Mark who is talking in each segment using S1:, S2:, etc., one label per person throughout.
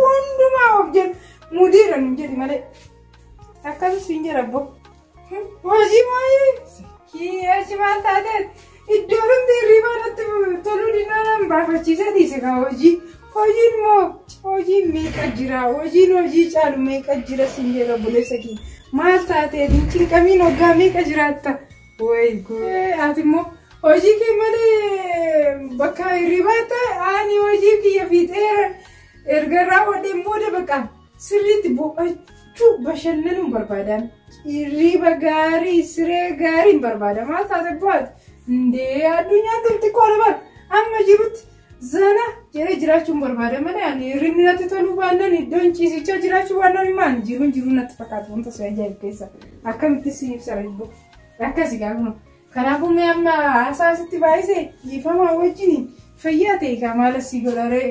S1: Hundumaa of jedhu mudiira nu jedhi malee. Akkasii siin jedha abbo. Hojii maayii kiyachi maal taatee iddoo namni hirribaa natti toluu dinnaa nan baafachiisee dhiise kaa hojii. Hojiin moo hojiin meeqa jira hojiin hojii caalu meeqa jira siin jedha obboleessa kiyya. Maal taatee hin cinqamiin hoggaa meeqa jiraatta. Way guude ati immoo hojii kee malee bakka hirribaa ta'anii hojii kiyya fiixeera erga raawwadheen booda bakka sirriitti boqochuu bashannanuun barbaadaan hirriba gaarii siree gaariin barbaada maal taate bu'aati hundee addunyaa xixiqqoo lamaan amma jirutti Zana jedhee jiraachuun barbaada malee ani hirribni natti toluu baannaan iddoon ciisichaa jiraachuu baannaan immoo ani jiruun jiruu natti fakkaatu wanta si ajaa'ibu keessa akkamitti si ibsa rajbo akkasi gaafuma kanaafuu mee amma haasaa asitti baay'ise dhiifamaa wajjin fayyaa ta'e kaa maala si godharee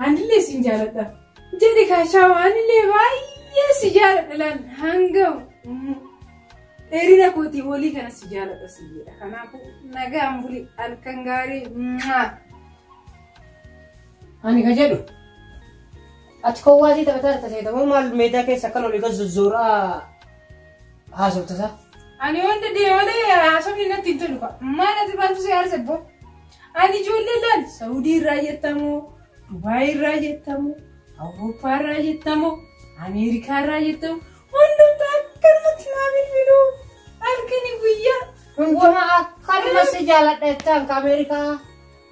S1: anillee sin jaaladha jedhe kaashaa anillee baay'ee si jaaladha laan hanga Dheerina kootii olii kana si jaaladha si jedha. Kanaafuu nagaan buli halkan gaarii.
S2: Ani ka jedhu ati kowwaatii taphataa jirta seeta moo maal meedaa keessa akkan olii gad zozzooraa haasofta isaa. Ani
S1: wanta deewalee haasofni natti hin tolu fa'a. Maal ati maaltu si aarse boo? Ani ijoollee laal Saawudii irraa jettamoo, Dubaayii irraa jettamoo, Awurooppaa irraa jettamoo, Ameerikaa irraa jettamoo Hundumtu akkanumatti naa bilbiluu halkani guyyaa. Hunduma
S2: akkanuma si jaaladha jettaan ka Ameerikaa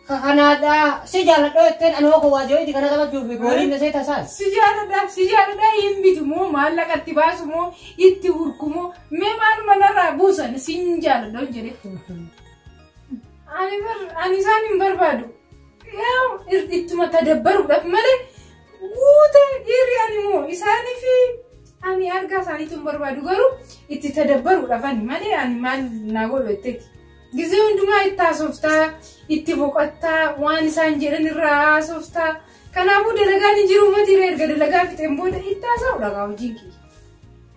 S2: ka Kanaadaa si jaaladha jetteen anoo ko waajjirootti kana taphachuuf gooliin nasee tasaan. Si
S1: jaaladha si jaaladha hin bitu moo maallaqa itti baasu moo itti hurku moo mee maal manarraa buusan si hin jaaladha hin jedhe. Ani bar ani isaan hin barbaadu. ittuma tadabbaruudhaaf malee guute dhiirri ani moo isaanii fi ani argaa isaaniitu hin barbaadu garuu itti tadabbaruudhaaf ani malee ani maal naa godhu jetteeti. Gizee hundumaa itti haasoftaa itti boqottaa waan isaan jedhan irraa haasoftaa kanaafuu dalagaan hin jiru uummati irra erga dalagaa fixeen booda itti haasa'uudha kaa hojiin kiyya.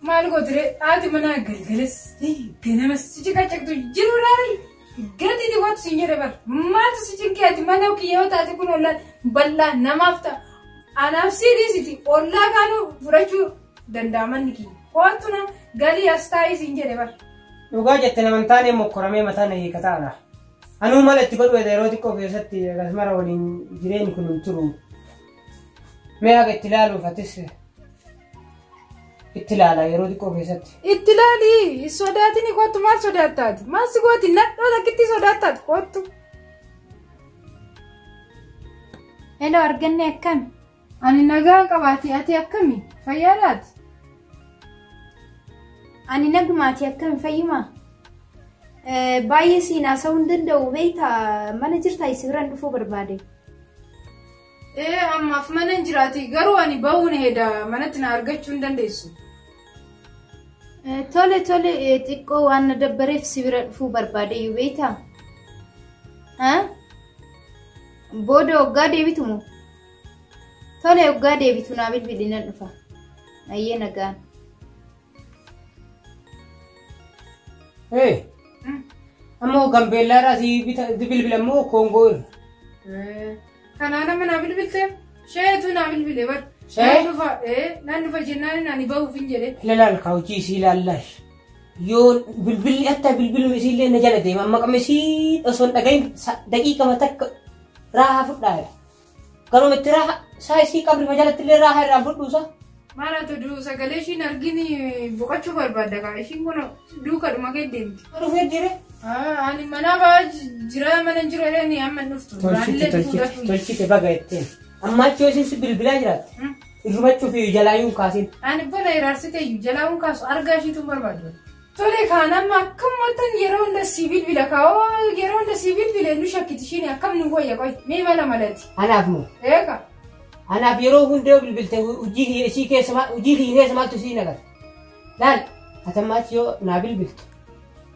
S1: Maal gootire haati manaa galgalas ta'e ganamas si ciqacaqtu jiru laari gadi dhiqotu si jedhe bar maaltu si cinqee ati mana kiyya yoo taate kun ollaan bal'aa namaaf ta'a anaaf si dhiisiti ollaa kaanuu fudhachuu danda'a manni kiyya koottu na galii as taa'ii si jedhe bar. Dhugaa jette naman
S2: taanee mokkoramee mataa na hiika taana. Anuu mala itti godhu yeroo xiqqoo keessatti akkasumara waliin jireenyi kun hin turu. Mee haqa itti ilaaluuf atis Itti ilaala yeroo xiqqoo keessatti. Itti ilaali
S1: hin sodaatini kottu maal sodaattaati? Maal si gooti nadhoo takkitti sodaattaati kottu. Hello arganne akkami? Ani nagaa qabaati ati akkami? Fayyaa laati?
S3: Ani nagumaati akkami fayyuma? Eh, Baay'ee siin haasa'uu hin danda'u beektaa mana jirtaa isin biraan dhufuu barbaade. Ee
S1: ammaaf mana hin jiraati garuu ani ba'uun heeda manatti na argachuu hin dandeessu.
S3: Tole tole xiqqoo waan na dabbareef si bira dhufuu barbaade iyyuu beektaa? Booda waggaa deebitu moo? Tole waggaa deebitu naa bilbili nan dhufa. Ayyee nagaan.
S2: Hey, ammoo gambeellaa irraa si bita- si bilbila immoo koongoo irra. Kanaa nama
S1: naa bilbilte sheetu naa bilbile bar. Shee? Nan dhufa ee nan dhufa jennaan naan bahuuf hin jedhe. Ilaal kaa hojii isii
S2: ilaallash. Yoo bilbilli hatta bilbiluma isii illee na jala deema amma qamma isii osoo hin dhagahin daqiiqama takka raahaa fudhaa. Garuu mitti raaha saa isii qabri majalatti illee raaha irraa fudhuusa. Maal
S1: haa ta'u sagalee ishiin argini boqachuu barbaadda kaa ishiin kun duuka dhuma kee deemti. Dhufee jire.
S2: Ani mana
S1: ba'aa jira mana jiru jedhani amma hin dhuftu. Tolchite tolchite tolchite
S2: baga ittiin. Amma achi yoo isin si bilbilaa jiraatte. Irrumachuuf jalaayyuun kaasiin. Ani bona iraarsite
S1: iyyuu jalaahuun kaasu argaa ishiitu hin barbaadu. Tole kaan amma akkamumattan yeroo hunda sii bilbila kaa'oo yeroo hunda sii bilbile nu shakkiti ishiin akkam nu wayya qoy mee mala malati. Anaaf moo? Eega. Anaaf yeroo
S2: hunda yoo bilbilte hojii kiyya isii keessa maal hojii kiyya keessa maaltu isii nagata? Laal atammaatti yoo naa bilbiltu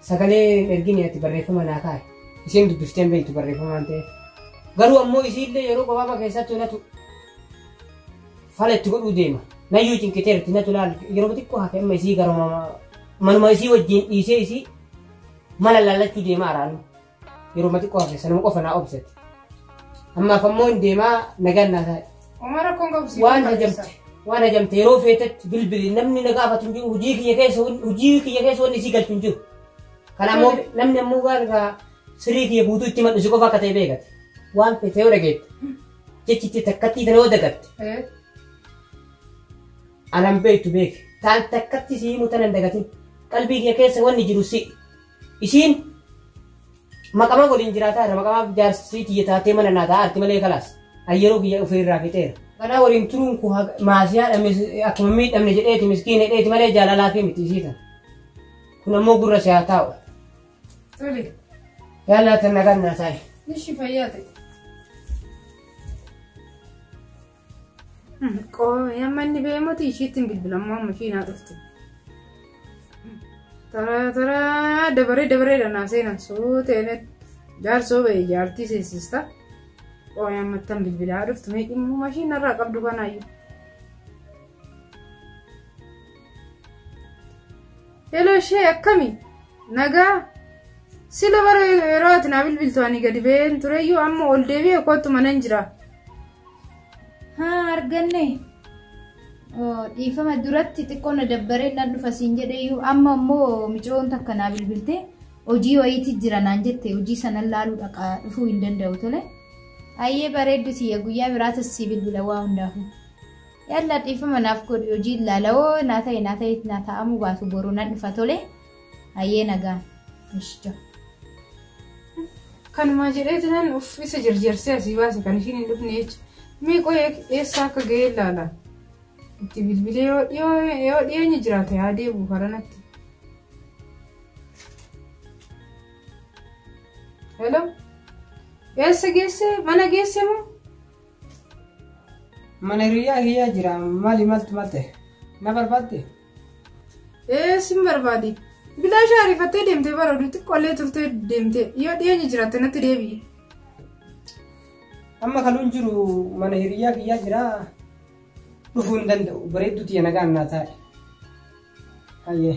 S2: sagalee ergini ati barreeffama naa kaa'e isheen dubbifteen beektu barreeffama waan ta'eef. Garuu ammoo isiillee yeroo gabaabaa keessatti hunatu fala itti godhuu deema. Nayyuu cinqiteerti natu laal yeroo xiqqoo hafe amma isii garuma manuma isii wajjin dhiisee isii mala laallachuu deema araanu. Yeroo xiqqoo hafe sanuma qofa naa obsate. Ammaaf ammoo hin deemaa nagaan naa taa'e. Uumaa rakkoon qabu siif Waan
S1: barbaachisa. hajamte waan
S2: hajamte yeroo feetetti bilbili namni na gaafatu hin jiru hojii kiyya keessa wan- hojii kiyya keessa wanni isii galchu hin jiru. Kana ammoo namni ammoo waan irraa sirii kiyya guutuu itti madhu si qofa akka ta'e beekate. Waan feete yoo dhageette Jechitti takkattii tana yoo dagatte. Eh. Anan beektu beeke. Taan takkatti si himu tana hin dagatin. Qalbii kiyya keessa wanni jiru si. Isiin maqamaa waliin jiraataa irra maqamaa jaarsii tiyya taatee mana naa taa'aa arti malee kalaas. An yeroo kiyya ofii irraa fixeera. Kanaa waliin turuun koo haga- maasiyaa dhamne akkuma miidhamne jedheeti miskiin hidheeti malee jaalalaa fi miti isii tana. Kun ammoo gurra si haa taa'u.
S1: Tole. Yaalaa
S2: tan nagaan naa taa'e. Ishi fayyaa ta'e.
S1: Qooyee amma inni ba'ee mootii ishiitti hin bilbilamuu amma ishii naa dhuftu. Taraa taraa dabaree dabaree dhanaa seenan suutee jaarsoo ba'e jaartii seensista. Qooyee amma tan bilbilaa dhuftu mee dhimma ishiin narraa qabdu kanaayyuu. Hello ishee akkami? Nagaa? Sila bara yeroo ati naa bilbiltu ani gadi ba'een tureyyuu amma ol deebi'e kootu manan jira.
S3: Haa arganne. Dhiifama duratti xiqqoo na dabbaree nan dhufa siin jedheyyuu amma immoo micoon takka naa bilbilte hojii wayiitti jira naan jette hojii sanan laaluu dhaqa dhufuu hin danda'u tole. Ayyee bareeddu tiyya guyyaa biraata si bilbila waa hundaafuu. Yaa Allah dhiifama naaf godhi hojiin laala hoo naa ta'e naa ta'e naa ta'amuu baatu boru nan dhufa tole hayyee nagaan. Ishja.
S1: Kanumaa jedhee jiran uffisa jarjarsee asii baase kan ishiin hin dhufne jecha. Mee qo'ee eessaa akka ga'ee laala. Itti bilbilee yoo dhiyoo- yoo dhiyeenya jiraate haa deebi'u karanatti. Hello? Eessa geesse? Mana geesse moo?
S2: Mana hiriyyaa kiyyaa jira mali maltu malte na barbaadde.
S1: Ee sin barbaadi. Bilaashaa ariifattee deemtee bara oduu xiqqoollee turtee deemtee yoo dhiyeenya jiraatte natti deebi'i.
S2: Amma kanuun jiru mana hiriyyaa kiyyaa jira dhufuu hin danda'u bareedduu tiyya nagaan naa taa'e. Hayyee.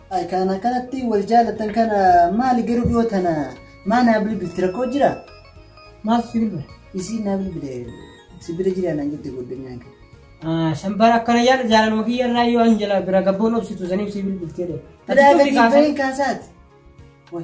S2: Ay kan akkanatti
S4: wal jaalatan kana maali garuu dhiyoo tana maa naa bilbilti rakkoo jira? Maaf si
S2: bilbila? Isiin naa bilbile
S4: si bira jira naan jette godhanyaan kee. San bara akkana yaada
S2: jaalaluma kiyya irraa yoo an jala bira gabboon obsitu saniif si bilbiltee dha. Biraa gadi bahin
S4: kaasaati. Wai.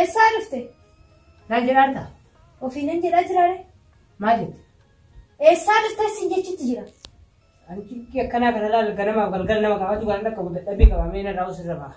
S3: Eessaa dhufte? Naan
S2: jedhaarta. Ofiinan jedhaa
S3: jiraare. Maal jette?
S2: Eessaa
S3: dhufte siin jechuutti jira. Ani cikkii
S2: akkanaa kana laal ganamaaf galgala nama qabatu kan akka dadhabbii qabamee narraa usirra ba'a.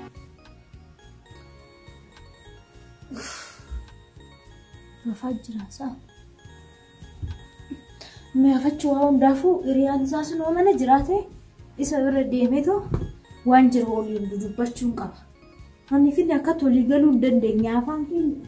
S3: Rafaa jiraa isaa. Mi'aafachuu waa hundaafuu hiriyaan isaa sun yoo mana jiraate isa bira deemeetu waan jiru waliin dudubbachuun qaba. Manni finni akkatti walii galuu hin dandeenye afaan keenya.